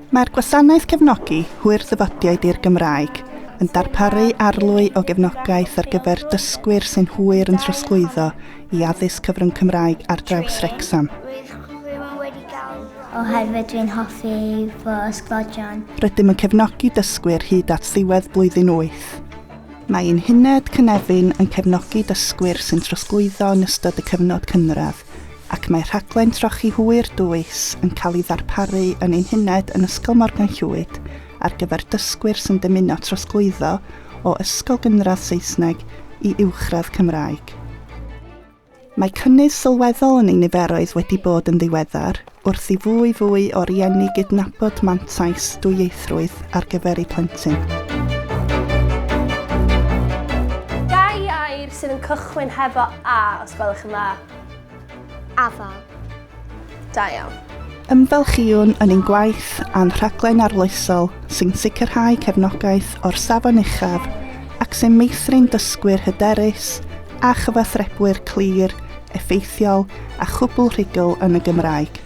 Mae'r Gwasanaeth Cefnogi Hwyr Ddyfodiaid i'r Gymraeg yn darparu arlwy o gefnogaeth ar gyfer dysgwyr sy'n hwyr yn trosglwyddo i addysg cyfrwng Cymraeg ar draws Wrecsam. Oherwydd dwi'n hoffi fy ysgodion. Rydym yn cefnogi dysgwyr hyd at ddiwedd blwyddyn wyth. Mae ein Uned Cynefin yn cefnogi dysgwyr sy'n trosglwyddo yn ystod y cyfnod cynradd ac mae rhaglen trochi hwyr dwys yn cael ei ddarparu yn ein huned yn Ysgol Morgan Llwyd ar gyfer dysgwyr sy'n dymuno trosglwyddo o ysgol gynradd Saesneg i uwchradd Cymraeg. Mae cynnydd sylweddol yn ei niferoedd wedi bod yn ddiweddar, wrth i fwy fwy o rieni gydnabod mantais dwyieithrwydd ar gyfer eu plentyn. Dau air sydd yn cychwyn hefo 'a' os gwelwch yn dda. Afael. Da iawn. Ymfalchïwn yn ein gwaith a'n rhaglen arloesol sy'n sicrhau cefnogaeth o'r safon uchaf ac sy'n meithrin dysgwyr hyderus a chyfathrebwyr clir, effeithiol a chwbl rhugl yn y Gymraeg.